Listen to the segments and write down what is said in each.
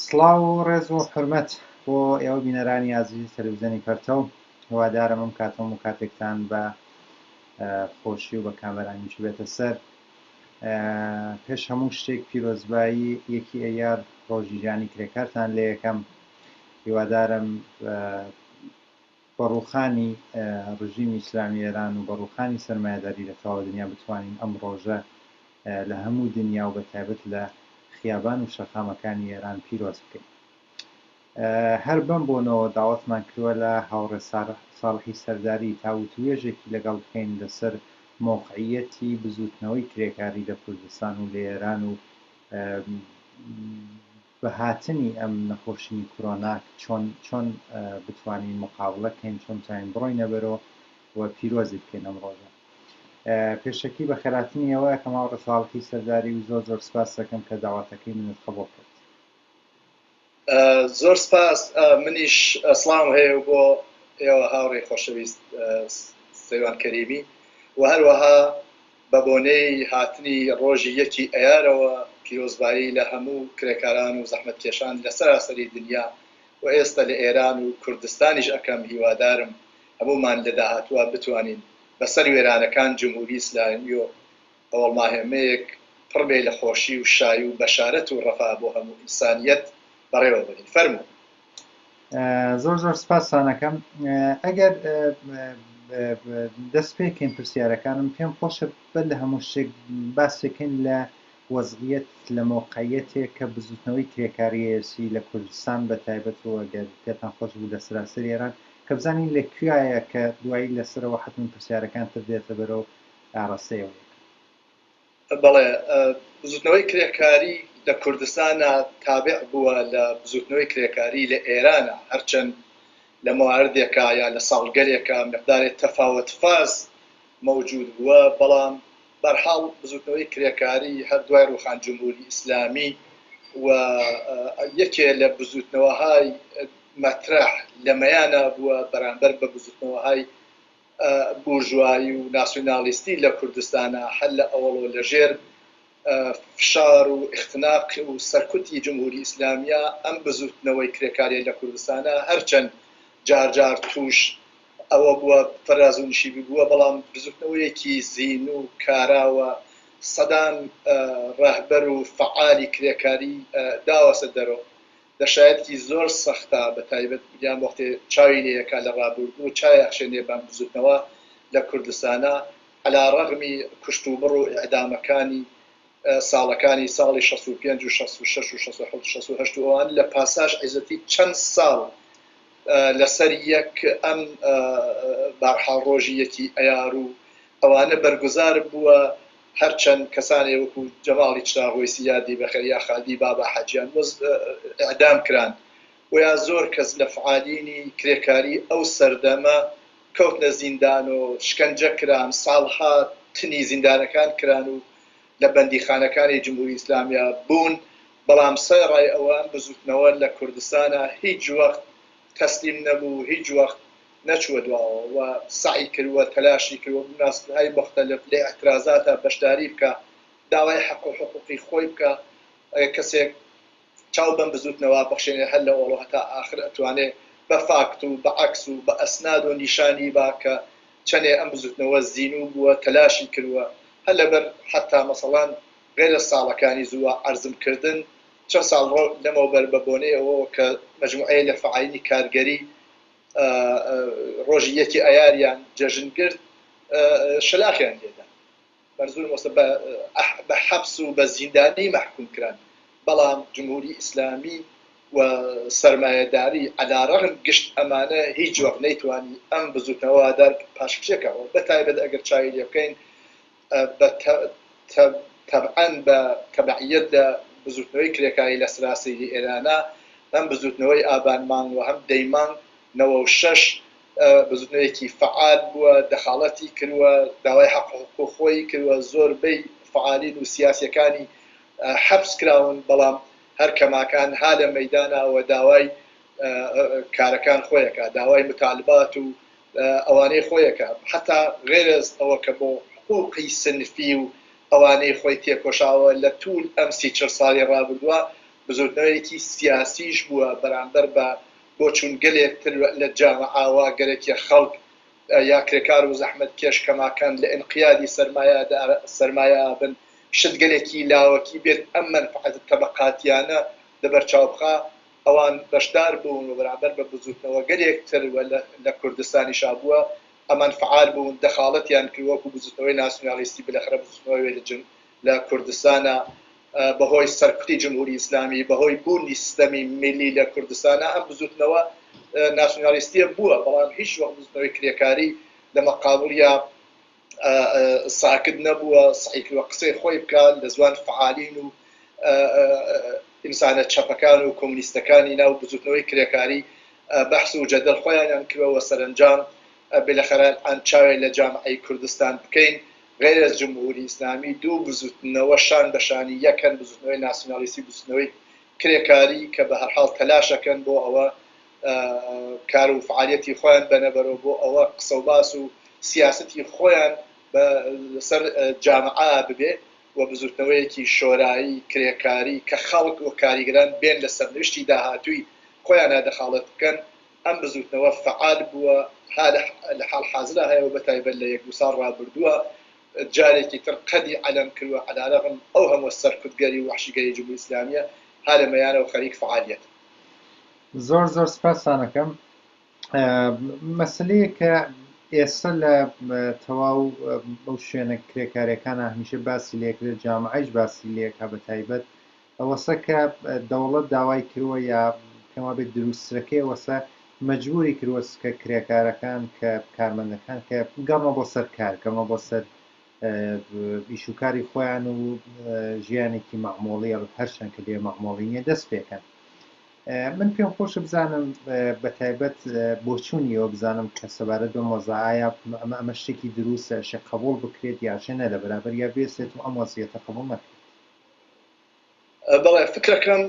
سڵاو و ڕێز و حرمەت بۆ ئێوە بینەرانی ئازیزی تەلویزیۆنی پەرتەو هیوادارم ئەم کاتەم و کاتێکتان بە خۆشی و بە کامەرانیش بێتە سەر پێش هەموو شتێک پیرۆزبایی یەکی ئەیار ڕۆژی ژانی کرێکارتان لە یەکەم هیوادارم بە ڕووخانی ڕژیمی ئیسلامی ئێران و بە ڕووخانی سەرمایەداری لە تەواوی دنیا بتوانین ئەم ڕۆژە لە هەموو دنیا و بە تایبەت لە خیابان و شەقامەکانی ئێران پیرۆز بکەین. هەر بەم بۆنەوە داوەتمان کردوە لە هاوڕێ ساڵحی سەرداری تا وتووێژێکی لەگەڵ بکەین لەسەر مەوقعییەتی بزووتنەوەی کرێکاری لە کوردستان و لە ئێران و بە هاتنی ئەم نەخۆشیی کورۆنا چۆن چۆن بتوانین مقابڵە کەین چۆن بتوانین بڕۆینە بەرۆ و پیرۆزی بکەین ئەم ڕۆژە پێشەکی بە خێراتنی ئەوە کە ماوە ڕساڵکی سەرداری و زۆر زۆر سپاس دەکەم کە داواتەکەی منت قبول کرد زۆر سپاس منیش ئەسڵام هەیە و بۆ ئێوە هاوڕێ خۆشەویست سەیوان کەریمی و هەروەها بە بۆنەی هاتنی ڕۆژی یەکی ئەیارەوە پیرۆزبایی لە هەموو کرێکاران و زەحمەتکێشان لە سەراسەری دنیا و ئێستە لە ئێران و کوردستانیش ئەکەم هیوادارم هەموومان لە داهاتووا بتوانین بە سەر وێرانەکان جمهوری ئیسلامی و هەوەڵناهێمەیەک پڕ بێ لە خۆشی و شایی و بەشارەت و ڕەفا بۆ هەموو ئینسانیەت بەڕێوە بەرین فەرموو. زۆر زۆر سپاسانەکەم ئەگەر دەست پێکەین پرسیارەکانم پێم خۆشە بە لە هەموو شتێک باسێکن لە وەزعیت لە مۆقعەتێک کە بزوتنەوەی کرێکاریەسی لە کوردستان بە تایبەت و ئەگەر پێتان خۆش بوو لە سراسەر ئێران کە بزانین لە کوایە کە دوایی لەسەرەوە حتممە پرسیارەکان تر دێتە بەرەو ئاراستەیەوە بەڵێ، بزوتنەوەی کرێکاری لە کوردستانا تابع بووە لە بزوتنەوەی کرێکاری لە ئێرانا، هەرچەند لە مواردێکا یا لە ساڵگەلێکا مقدارێ تەفاوەت فاز مەوجود بووە، بەڵام بەرحاڵ بزوتنەوەی کرێکاری هەر دوای ڕوخان جمهوری ئیسلامی و یەکێ لە بزوتنەوەهای مەترەح لە مەیانا بووە بەرامبەر بە بزوتنەوەهای بورژوایی و ناسیونالیستی لە کوردستانا هەر لە ئەوەڵۆ لە ژێر فشار و ئیختناق و سەرکوتی جمهوری ئیسلامیە ئەم بزوتنەوەی کرێکاریە لە کوردستانا هەرچەن جار جار توش ئەوە بوە فەراز و نشیبی بوە بەڵام بزوتنەوەیەکی زین و کاراوە سەدان رەهبەر و فەعالی کرێکاری داوەسە دەرۆ لە شایەتکی زۆر سەختا بە تایبەت گیان وەختێ چاوی لێ یەکا لە ڕابوردوو چای ئەخشێنێ بان بزوتنەوە لە کوردستانا عەلا ڕەغمی کوشت و بڕ و ئیعدامەکانی ساڵەکانی ساڵی شەست و پێنج و شەست و شەش و شەست و حەوت و شەست و هەشت و ئەوان لە پاساش عیزەتی چەند ساڵ لە سەر یەک ئەم بارحاڵ ڕۆژی یەکی ئەیارو ئەوانە بەرگوزار بووە هەرچەند کەسانێ وەکو جەماڵی چراغ وەیسی یادی بەخێر یا خالدی بابا حەجیان مز اعدام کران وەیا زۆر کەس لە فعالینی کرێکاری ئەو سەردەمە کەوتنە زیندان و شکەنجە کران ساڵها تنی زیندانەکان کران و لە بەندیخانەکانی جمهوری ئیسلامیا بوون بەڵام سە رای ئەوە ئەم بزوتنەوە لە کوردستانا هیچ وەخت تەسلیم نەبوو هیچ وەخت نەچووە دواوە و سەعی کردووە تەلاشی کردووە بمناسبەهای موختەلف لە ئیعترازاتا بەشداری بکا داوای حەق و حقوقی خۆی بکا ئەگەر کەسێک چاو بەم بزووتنەوە بخشێنێ هەر لە ئۆڵۆ هەتا ئاخر ئەتوانێ بە فاکت و بە عەکس و بە ئەسنادۆ نیشانی با کە چەنێ ئەم بزووتنەوە زینوو بووە تەلاشی کردووە هەر لە بەر حەتا مەسەڵان غەیرە ساڵەکانی زووە عەرزم کردن چەن ساڵ ڕەو لەمەوبەر بە بۆنەی ئەوەوە کە مەجموعەیە لە فەعالینی کارگەری ڕۆژی یەکی ئایاریان جەژن گرت شەلاقیان لێدا بەرزوو مۆسە بە حەپس و بە زیندانی مەحکوم کران بەڵام جمهوری ئیسلامی و سەرمایەداری عەلا ڕەغم گشت ئەمانە هیچ وەخت نەیتوانی ئەم بزوتنەوە دار پاشکشێکەوە بەتایبەت ئەگەر چاوی لێبکەین بە تە تەبعەن بە تەبعیەت لە بزووتنەوەی کرێکاری لە سراسەیری ئێرانا هەم بزووتنەوەی ئابان مانگ و هەم دەی مانگ نەوە و شەش بزووتنەوەیەکی فەعال بووە دەخاڵەتی کروە داوای حەق و حقووق خۆی کروە زۆر بەی فەعالین و سیاسیەکانی حەپس کراون بەڵام هەر کەماکان ها لە مەیدانا وە داوای کارەکان خۆیەکا داوای متالبات و ئەوانەی خۆیەکا حەتا غەیرەز ئەوە کە بۆ حقوقی سنفی و ئەوانەی خۆی تێکۆشاوە لە توول ئەم سی چل سالی ڕابردوە بزوتنەوەیەکی سیاسیش بوە بەرامبەر بە بۆ چوون گەلێک تر لە جامعاوە گەلەکێ خەڵک یا کرێکار و زەحمەت کێش کەماکان لە ئینقیادی سەرمایەدار سەرمایە ئابن شت گەلێکی لاوەکی بێت ئەم مەنفعەتە تەبەقاتیانە لە بەرچاو بخا ئەوان بەشدار بوون و بەرامبەر بە بزووتنەوەگەلێک تر و لە کوردستانیشا بووە، ئەمان فعال بوون، دەخاڵەتیان کرد وەکوو بزووتنەوەی ناسیونالیستی، بلەخرە بزووتنەوەی وێلجن لە کوردستانا بە هۆی سەرکوتی جمهووری ئیسلامی، بە هۆی بوونی ستەمی میلی لە کوردستانا ئەم بزووتنەوە ناسیونالیستییە بووە، بەڵام هیچ وەخت بزووتنەوەی کرێکاری لە مەقابڵیا. ساکت نەبووە سەعیکل و قسەی خۆی بکات لە زوان فعالین و ئینسانە چەپەکان و کۆمنیستەکانی ناو بزوتنەوەی کرێکاری بەحس و جەدەل خۆیانیان کردەوە سەرەنجام بلەخەرە ئان چاوێ لە جامعەی کوردستان بکەین غیر از جمهوری اسلامی دوو بزوتنەوە شان بە شانی یەکن بزوتنەوەی ناسیونالیستی بزوتنەوەی کرێکاری کە بە هەرحاڵ تەلاشەکەن بۆ ئەوە کار و فعالیەتی خۆیان بەنە بەرەو بۆ ئەوە قسە و باس و سیاسەتی خۆیان بە سەر جامعە ببێ و بزوتنەوەیەکی شۆرایی کرێکاری کە خەڵک و کاریگەران بێن لە سەرنوشتی داهاتووی خۆیانا دەخاڵەت بکەن ئەم بزوتنەوە فعال بووە ها لە حاڵ حازرا هەیە و بەتایبەت لە یەک دوو ساڵ ڕابردووە جارێکی تر قەدی عەلەم کرد و عەلارەغم ئەو هەمووە سەرکوتگەری و وەحشیگەری جمهوری ئیسلامیە ها لە مەیانەوە خەریک فعالیەت زۆر زۆر سپاستانەکەم مەسلەیە کە ئێستا لە تەواو بەو شوێنە کرێکارەکانە هەمیشە باسی لێکرێت جامعش باسی لێکا بە تایبەت ئەوەسە کە دەوڵەت داوای کردوە یا پێما بێت دروستەکەی وەسە مجبوری کروس کە کرێکارەکان کە کارمەندەکان کە گەڕمە بۆ سەر کار گەڕمە بۆ سەر ئیشوکاری خۆیان و ژیانێکی مەعمۆڵی هەرچەند کە لێ مەعمۆڵی نیە دەست پێکەن من پێم خۆشە بزانم بە تایبەت بۆچوونی ئەوە بزانم کە سەبارەت بە مۆزە ئایا ئەمە ئەمە شتێکی دروستە شێ قبول بکرێت یاژێ نە لە بەرابەر یا بێسێت و ئەم وەزیەتە قبول نەکرێت بەڵێ فکرەکەم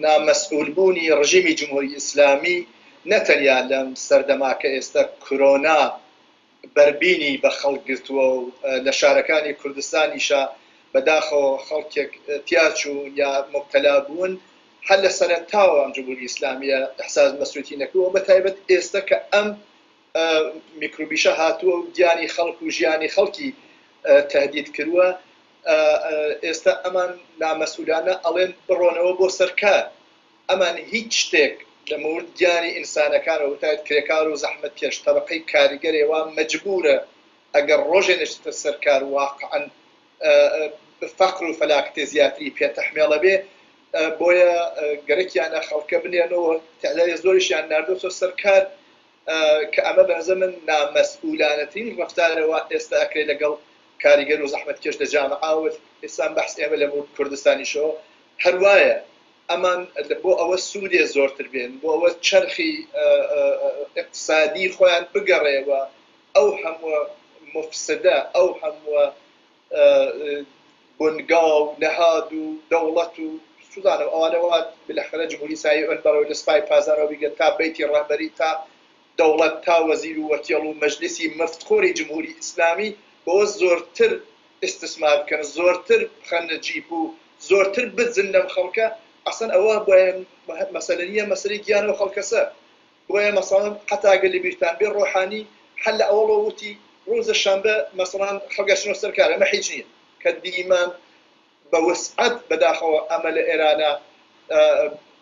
نامەسئولبوونی ڕژیمی جمهوری ئیسلامی نەتەنیا لەم سەردەماکە ئێستا کرۆنا بەربینی بە خەڵک گرتووە و لە شارەکانی کوردستانیشە بەداخەوە خەڵکێک تیاچوون یا موبتەلا بوون هەر لە سەرەتاوە ئەم جمهوری ئیسلامیە ئیحساس مەسوتی نەکردووە بە تایبەت ئێستە کە ئەم میکروبیشە هاتووە و گیانی خەڵک و ژیانی خەڵکی تەهدید کرووە ئێستە ئەمان نامەسولانە ئەڵێن بڕۆنەوە بۆ سەر کار ئەمان هیچ شتێک لە مورد گیانی ئینسانەکان و بتایت کرێکار و زەحمەتکێش تەبەقەی کاریگەرێ وا مەجبورە ئەگەر ڕۆژێ نەشتتە سەر کار واقعەن فەقر و فەلاکەتێ زیاتری پێ تەحمێڵە بێ بۆیە گەرەکیانە خەڵکە بنێرن و تەعدادێ زۆریشیان ناردۆتە سەر کار کە ئەمە بە نەزەر من نامەسئولانەترین ڕەفتارە وا ئێستا ئەکرێ لە گەڵ کاریگەر و زەحمەتکێش لە جامعە و ئێستا بەحس ئێمە لە مورد کوردستانیشەوە هەر وایە. ئەمان بۆ ئەوە سوودێ زۆرتر بێن، بۆ ئەوە چەرخی ئیقتسادی خۆیان بگەڕێ و ئەو هەمووە موفسدە، ئەو هەمووە بنگا و نەهاد و دەوڵەت و سوودانە و ئەوانە وا بلەخرە جمهوری ئیسالی ئۆن بەڕێ و لە سپای پاسدارەوە بیگرە تا بەیتی ڕەهبەری تا دەوڵەت تا وەزیر و وەکێڵ و مەجلیسی مفت خۆری جمهوری ئیسلامی بەوە زۆرتر ئیستسمار بکەن زۆرتر بخەنە جیب و زۆرتر بدزن لەم خەڵکە ئەسڵەن ئەوە بۆیە مەسەلە نیە مەسەلەی گیان ئەو خەڵکەسە بۆیە مەسەڵەن حەتا گەر لەبیرتان بێ ڕۆحانی هەر لە ئەوەڵۆ وتی ڕوزە شەمبە مەسەڵەن خەڵکە چنۆ سەر کار ئەمە حیچ نیە کە دیمان بە وسعەت بەداخەوە ئەمە لە ئێرانە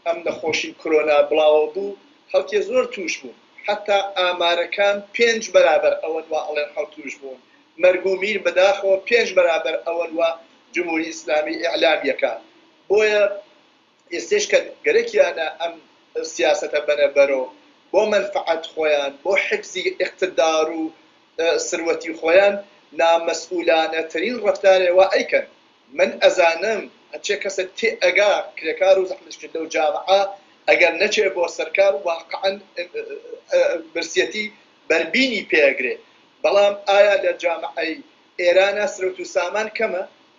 ئەم نەخۆشی کرۆنا بڵاوە بوو خەڵکێ زۆر تووش بوون حەتا ئامارەکان پێنج بەرابەر ئەوەن وا ئەڵێن حەوت تووش بوون مەرگ و میر بەداخەوە پێنج بەرابەر ئەوەن وا جمهوری ئیسلامی ئیعلام یەکا بۆیە ئێستەیش کە گەرەکیانە ئەم سیاسەتە بەنە بەرۆ بۆ مەنفەعەت خۆیان، بۆ حفزی ئیقتدار و سروەتی خۆیان، نامەسئولانەترین ڕەفتارێ وا ئەیکەن. من ئەزانم هەرچێ کەسێ تێ ئەگا کرێکار و زەحمەتکێش لەو جامعە ئەگەر نەچێ بۆ سەر کار واقعەن برسیەتی بەربینی پێ ئەگرێ. بەڵام ئایا لە جامعەی ئێرانا سرەوت و سامان کەمە؟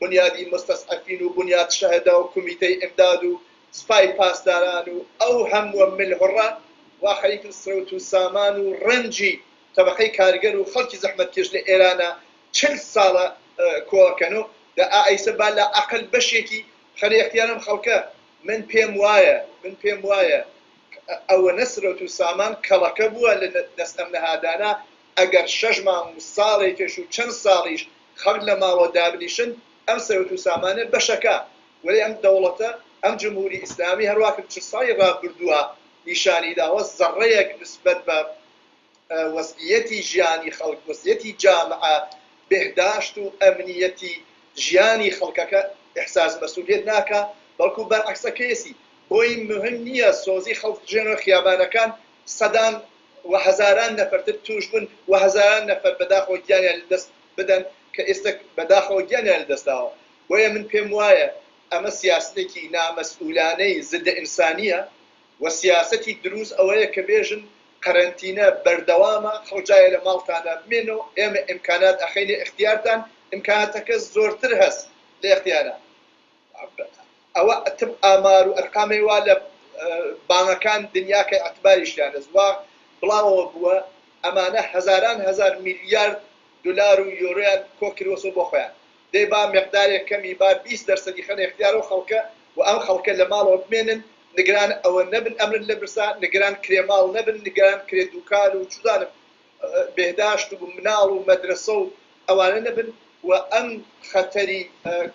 بونیادی موستەسعەفین و بونیاد شەهدا و کومیتەی ئیمداد و سپای پاسداران و ئەو هەمووە ملهوڕە واقعی کە سەوت و سامان و ڕەنجی تەبەقەی کارگەر و خەڵکی زەحمەتکێش لە ئێرانا چل ساڵە کۆکەنۆ دە ئائەیسە با لە ئەقەل بەشێکی بخەنە ئیختیار ئەم خەڵکە من پێم وایە من پێم وایە ئەوەنە سەوت و سامان کەڵەکە بووە لە دەست ئەم نەهادانە ئەگەر شەش مانگ و ساڵێکێش و چەند ساڵیش خەڵک لە ماڵەوە دابنیشن ئەم سەروەت و سامانە بەشەکە وەلێ ئەم دەوڵەتە ئەم جمهوری ئیسلامی هەر واکرد چل ساڵی ڕابردوە نیشانی داوە زەڕەیەک نسبەت بە وەزعیەتی ژیانی خەڵک وەزعیەتی جامعە بێهداشت و ئەمنیەتی ژیانی خەڵکەکە ئیحساس مەسولیەت ناکا بەڵکو بەرعەکسەکەیەسی بۆی مهم نیە سۆزی خەڵک ژێنۆ خیابانەکان سەدان و هەزاران نەفەرتر تووشبوون و هەزاران نەفەر بەداخەوە گیانیان لەدەست بدەن کە ئێستە بەداخەوە گیانیان لەدەستداوە، بۆیە من پێموایە ئەمە سیاسەتێکی نامەسئولانەی زدە ئینسانییە و سیاسەتی درووست ئەوەیە کە بێژن قەرەنتینە بەردەوامە خەڵک جا لە ماڵتانە بمێنەوە ئێمە ئیمکانات ئەخەینە ئیختیارتان ئیمکاناتەکە زۆرتر هەس لە ئیختیارە ئەوە ئەتب ئامار و ئەرقامەی وا لە بانەکان دنیا کە ئەتباریشیان لە زوا بڵاوەوە بووە ئەمانە هەزاران هەزار میلیارد دولار و یۆرۆیان کۆ کروەسۆ بۆ خۆیان دەی با مقدارێ کەمی با بیست دەرسەدی خەنە ئیختیار ئەو خەڵکە و ئەم خەڵکە لە ماڵەوە بمێنن نگران ئەوە نەبن ئەمرن لە برسا نگران کرێ ماڵ نەبن نگران کرێ دوکان و چوزانم بێهداشت و مناڵ و مەدرەسە و ئەوانە نەبن و ئەم خەتەری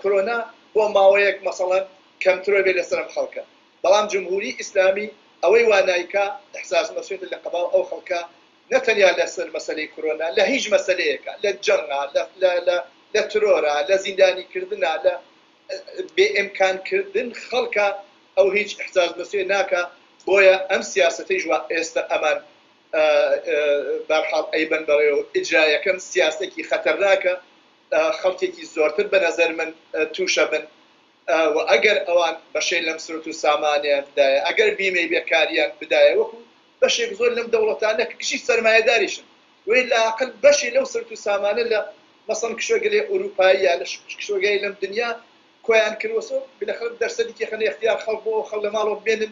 کرۆنا بۆ ماوەیەک مەسەڵەن کەمترۆ بێ لە سەرم خەڵکە بەڵام جمهوری ئیسلامی ئەوەی وا نایکا احساس مسویت لە قبال ئەو خەڵکە نە تەنیا لە سەر مەسەلەی کرۆنا لە هیچ مەسەلەیەکا لە جەنگا لە لە لە لە ترۆرا لە زیندانی کردنا لە بێ امکان کردن خەڵکە ئەو هیچ احساس مسویت ناکا بۆیە ئەم سیاسەتەیش وا ئێستە ئەمان بەرحاڵ ئەیبەن بەڕێوە ئیجرایەکەم سیاسەکی خەتەرناکە خەڵکێکی زۆرتر بەنەزەر من توشەبن وە ئەگەر ئەوان بەشەی لەم سروت و سامانەیان بدایە ئەگەر بیمەی بێکاریان بدایە وەکو بەشێک زۆر لەم دەوڵەتانە کە کشی سەرمایەداریشن وەی لاقل بەشی لەو سروت و سامانە لە مەسەڵن کشوەگەلێ ئوروپاییە لە کشوەگەی لەم دنیا کۆیان کروەسۆ بلەخەر دەرسەدی کێخەنە ئختیار خەڵک بۆ خەڵ لەماڵەوە بمێنن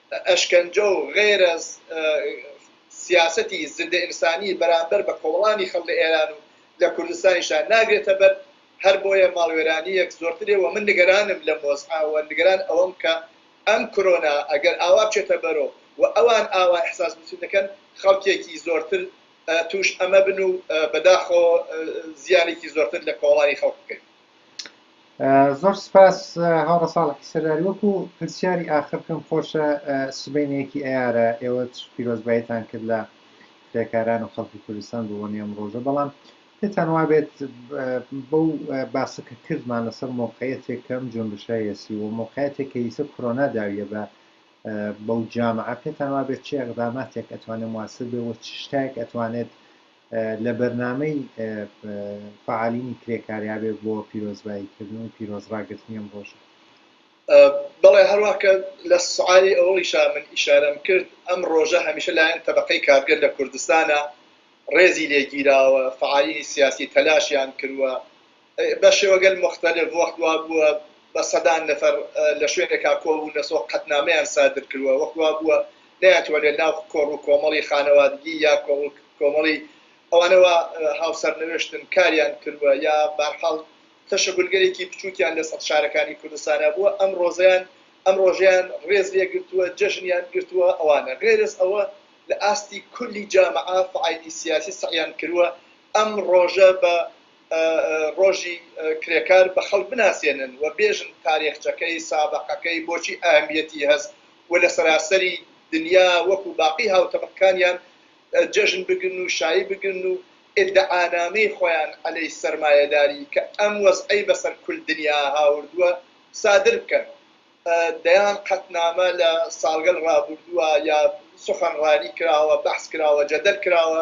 ئەشکەنجە و غەیرە سیاسەتی زندە ئینسانی بەرامبەر بە کۆمەڵانی خەڵک لە ئێران و لە کوردستانیشدا ناگرێتە بەر، هەر بۆیە ماڵوێرانییەک زۆرترێ و من نیگەرانم لەم وەزعە و نیگەران ئەوەم کە ئەم کرۆنا ئەگەر ئاوا بچێتە بەرۆ و ئەوان ئاوا ئیحساس بچی دەکەن خەڵکێکی زۆرتر تووش ئەمە بن و بەداخەوە زیانێکی زۆرتر لە کۆمەڵانی خەڵک بکەوێت. زۆر سپاس هاوڕە ساڵحی سەرداری وەکو پرسیاری ئاخر پێم خۆشە سبینەیەکی ئەیارە ئێوە پیرۆزبایتان کرد لە کرێکاران و خەڵکی کوردستان بۆ بۆنی ئەم ڕۆژە بەڵام پێتان وابێت بەو باسە کە کردمان لەسەر مۆقعەتێک کەم جۆنگشایەسی و مۆقعەتێک کە ئیسە کۆرۆنا داویە بە بەو جامعە پێتان وابێت چ ئەقداماتێک ئەتوانێت مواسر بێ و چ شتایەک ئەتوانێت لە بەرنامەی فەعالینی کرێکاریابێ بۆ پیرۆزبایی کردن و پیرۆز ڕاگرتنی ئەم ڕۆژە. بەڵێ هەروا کە لە سعالی ئەوەڵیشا من ئیشارەم کرد ئەم ڕۆژە هەمیشە لایەن تەبەقەی کارگەر لە کوردستانا ڕێزی لێ گیراوە فەعالینی سیاسی تەلاشیان کروە، بە شێوەگەل موختەلف وەخت وا بووە بە سەدان نەفەر لە شوێنێکا کۆ بوون لە سۆ قەتنامەیان سادر کرووە، وەخت وا بووە نەیانتوەنێ ناو کۆڕ و کۆمەڵی خانەوادگی یا کۆڕ و کۆمەڵی ئەوانە وا هاو سەرنوێشتن کاریان کرووە یا بارحاڵ تەشەگولگەلێکی بچووکیان لە سەت شارەکانی کوردستانا بووە ئەم ڕۆزەیان ئەم ڕۆژەیان ڕێز لێ گرتووە جەژنیان گرتووە ئەوانە غەیرەز ئەوە لە ئاستی کولی جامعە فعالی سیاسی سەعیان کرووە ئەم ڕۆژە بە ڕۆژی کرێکار بە خەڵک بناسێنن و بێژن تارێخچەکەی، سابەقەکەی، بۆچی ئەهمیەتی هەس و لە سەراسەری دنیا وەکو باقی هاوتەبەقکانیان جەژن بگرن و شایی بگرن و ئیدعانامەی خۆیان عەلەی سەرمایەداری کە ئەم وەزعەی بەسەر کول دنیا هاوردوە سادر بکەن. دەیان قەتنامە لە ساڵگەل ڕابوردوە یا سوخەنڕانی کراوە، بەحس کراوە، جەدەل کراوە،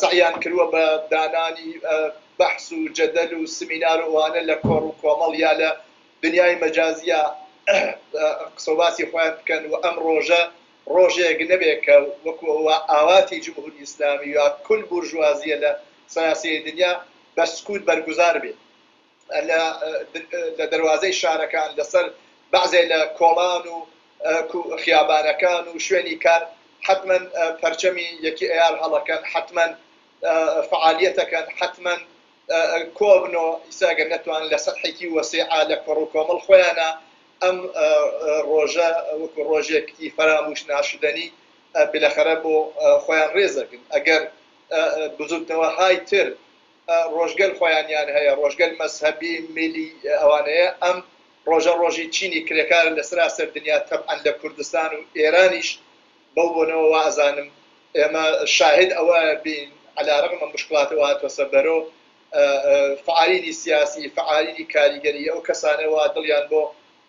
سەعیان کردووە بە دانانی بەحس و جەدەل و سمینار و ئەوانە لە کۆڕ و کۆمەڵ یا لە دنیای مەجازیا قسە و باسی خۆیان بکەن و ئەم ڕۆژە ڕۆژێک نەبێ کە وەکو ئەوە ئاواتی جمهوری ئیسلامی یا کل بورژوازیە لە سەراسیری دنیا بە سکوت بەرگوزار بێ. لە دەروازەی شارەکان، لەسەر بەعزێ لە کۆڵان و خیابانەکان و شوێنی کار حەتمەن پەرچەمی یەکی ئەیار هەڵەکەن، حەتمەن فەعالیەتەکەن، حەتمەن کۆبنۆ، ئیسە ئەگەر نەتوانن لە سەتحێکی وەسیعا لە کۆڕ و کۆمەڵ خۆیانا ئەم ڕۆژە وەکو ڕۆژێک ئی فەرامووش ناشدەنی بلەخەرە بۆ خۆیان ڕێزەگن ئەگەر بزووتنەوەهای تر ڕۆژگەل خۆیانیان هەیە ڕۆژگەل مەزهەبی میلی ئەوانەیە ئەم ڕۆژە ڕۆژی چینی کرێکارە لە سەراسەر دنیا تەبعەن لە کوردستان و ئێرانیش بەو بۆنەوە وائەزانم ئێمە شاهێد ئەوە بین عەلا رەغم موشکڵات و هاتوەسە بەرۆ فعالینی سیاسی فعالینی کاریگەری ئەو کەسانە وا دڵیان بۆ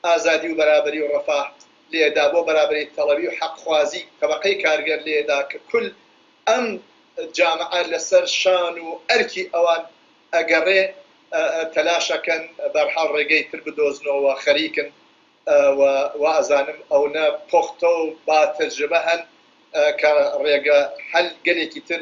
ئازادی و بەرابەری و ڕەفاه لێدا بۆ بەرابەری تەڵەبی و حەقخوازی تەبەقەی کارگەر لێدا کە کل ئەم جامعە لەسەر شان و ئەرکی ئەوان ئەگەڕێ تەلاشەکەن بەرحاڵ ڕێگەی تر بدۆزنۆ و خەریکن و وائەزانم ئەونە پۆختەو با تەجربە هەن کە ڕێگە حەل گەلێکی تر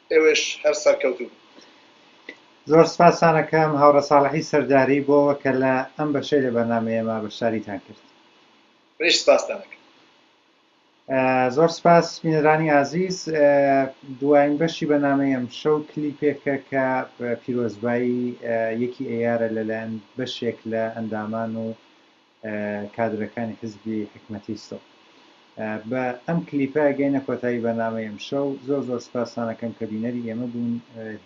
ئێوەش هەر سەرکەوتوو بن. زۆر سپاستان ئەکەم هاوڕێ ساڵحی سەرداری بۆ ئەوە کە لە ئەم بەشەی لە بەرنامەی ئێمە بەشداریتان کرد. منیش سپاستان ئەکەم. زۆر سپاس بینەرانی ئازیز دوایین بەشی بەنامەی ئەم شەو کلیپێکە کە پیرۆزبایی یەکی ئەیارە لەلایەن بەشێک لە ئەندامان و کادرەکانی حیزبی حیکمەتی سڵ. بە ئەم کلیپە گەینە کۆتایی بەرنامەی ئەمشەو زۆر زۆر سپاستان ئەکەم کە بینەری ئێمە بوون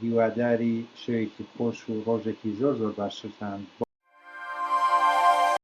هیواداری شەوێکی خۆش و ڕۆژێکی زۆر زۆر باشترتان